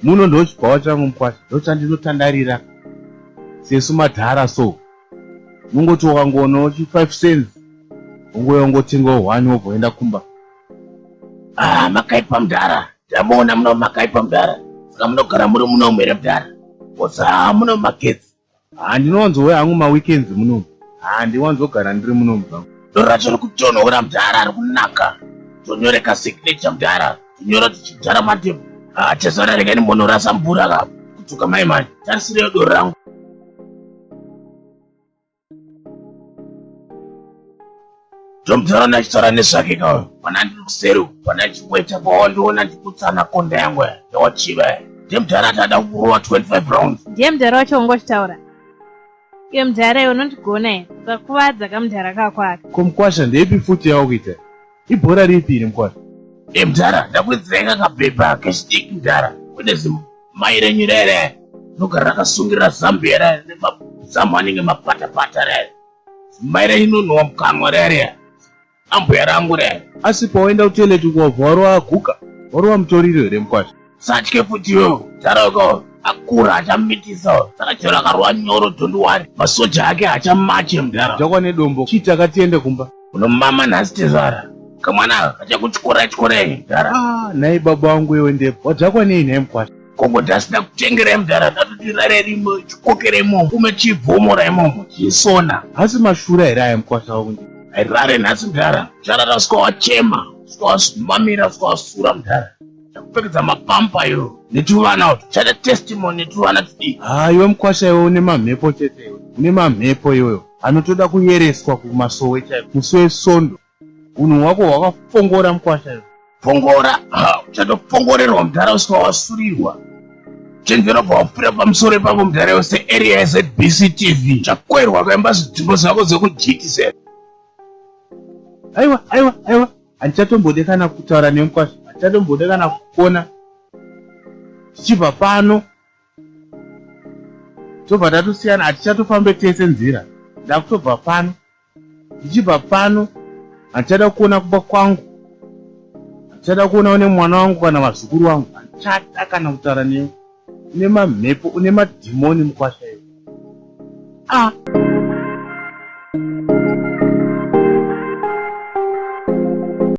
muno ndochibvawa changu mkwasha ndochandinotandarira sesu madhara so unongoti wakangoonawo chi 5 cents ungouya ungotengawo one wobva uenda kumba ah makaipa mudhara ndamuona muno makaipa mudhara saka munogara muri muno mhere mudhara kosa muno magetsi Handinowanzouya hangu maweekends munomu. Handiwanzogara ndiri munomu zvangu. Doro racho riri kutonhora mdara ari kunaka. Tonyoreka signature mdara. Tinyora tichidhara mademo. Ah, chezvara rega nimbonorasa mvura ka. Kutuka mai manje. Tarisireyo doro rangu. Ndomudhara ndachitaura nezvake ka uyu mwana ndiri kuseri uku mwana ndichikuita pawandiona ndikutsana konda yangu yawachiva ndiye mudhara ati ada kukurova 25 rounds ndiye mudhara wacho ungochitaura iye mudhara iwe unondigona here ukakuvadza kamudhara kako aka ko mukwasha ndeipi futi yawo kuita ibhora ripi iri mukwasha e mudhara ndakuidzirai kakabhebha kechidiki mudhara kune zimai renyu rere rinogara rakasungirira zambi here nemazamu anenge mapatapata rere Mai rainonhuwa mukanwa riya riya. Ambuya rangu riya. Asi pawaenda kutoilet uko wabva warova guka? Warova mutoriro here mukwasha? Usatye futi iwewe. Taroko akura achamitisa saka chero akarova nyoro don't worry. Masoja ake hachamatche mudhara. Jakwa nedombo. Chii taka tiende kumba. Unomama nhasi tezvara. Kamwana aka kachakutyora tyora ini mudhara. Ah, nhai baba wangu iwe ndepo. Wadhakwa nei nhai mukwasha? Gogo Dust ndakutengerai mudhara ndatoti rare rimo chikokera imomo ume chibvomora imomo chisona. Hasi mashura here aya mkwasha wako ndi. Rare nhasi mudhara charara sika wachema sika wasumamira sika wasura mudhara kupfekedza mapampa iyo netuvana utu chada testimony netuvana tudii haa iwe mkwasha iwe une mamhepo chete iwe une mamhepo iweyo anotoda kuyereswa kumasowe chaiko musi wesondo Unhu hwako hwakafongora mkwasha iwe. Fongora, ha, uchatofongoorerwa mudhara usika wasurirwa. Chenjera pawapfira pamusoro ipapo mudhara iwe searea yeZBC TV. Chakwerwa kaimba zvidhimbo zvako zvekuGTZ. Aiwa, aiwa, aiwa. Handichatombode kana kutaura newe mkwasha. Handichatombode kana kukona. Tichibva pano. Tobva tatosiyana, hatichatofambe tese nzira. Ndakutobva pano. Ndichibva pano handichada kuona kumba kwangu, handichada kuona une mwana wangu kana vazukuru vangu, handichada kana kutaura newe. Une mamhepo, une madhimoni mukwasha iwe. Ah.